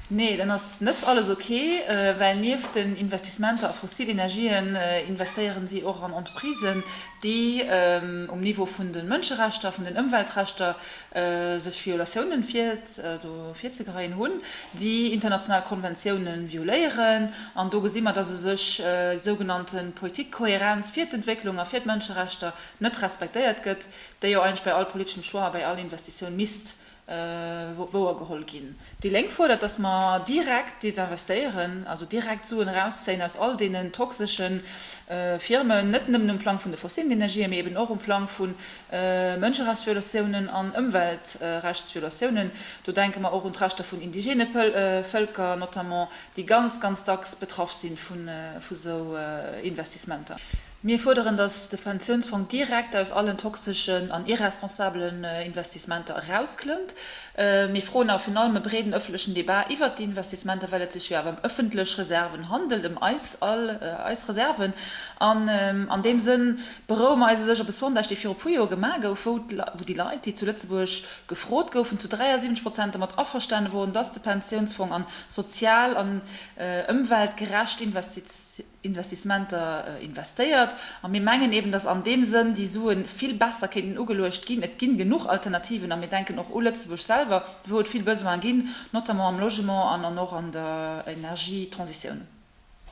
Nee, dann ass net alles ok, well nieft den Investissementer a fossil Energien investéieren si och an Entreprisen, déi um Niveau vun de Mënscherechter, vun den Ëmweltrechter sech Violatiounen virzegeheien hunn, déi international Konventioune violéieren. An do gesi mer, datt u sech déi sougenannte Politik Kohärenz fir d'Entwécklung a fir d'Mënscherechter net respektéiert gëtt, déi jo eigentlech bei all politeschem Choix a bei all Investitioun misst wouergeholl ginn. Déi Lénk fuerdert, datt mer direkt desinvestéieren, also direkt Suen erauszéien aus all deenen toxesche Firmen, net nëmmen um Plang vun de fossilen Energien, mee eben och um Plang vu Mënscherechtsviolatiounen an Ëmweltrechtsviolatiounen. Do denke mer och un d'Rechter vun indigene Vëlker notamment, déi ganz, ganz dacks betraff si vu sou Investissementer. Mir fuerderen, dass de Pensiounsfong direkt aus allen toxeschen an irresponsabelen Investissementer erausklëmmt. Mir froen awer virun allem e breeden ëffentlechen Debat iwwert déi Investissementer, well et sech jo awer ëm ëffentlech Reserven handelt, ëm eis all, eis Reserven. An an deem Sënn beroue mer eis u sech op e Sondage, dee viru puer Joer gemaach gouf, wou déi Leit, déi zu Lëtzebuerg gefrot goufen, zu 73 Prozent dermat averstane woren, dass de Pensiounsfong a sozial an ëmweltgerecht Investitiounen, Investissementer investéiert. A mir mengen eben, dass an deem Sënn déi Sue vill besser kéinten ugeluecht ginn. Et ginn genuch Alternativen a mir denken och u Lëtzebuerg selwer, wou et vill Besoine ginn, notamment am Logement an och an der Energietransitioun.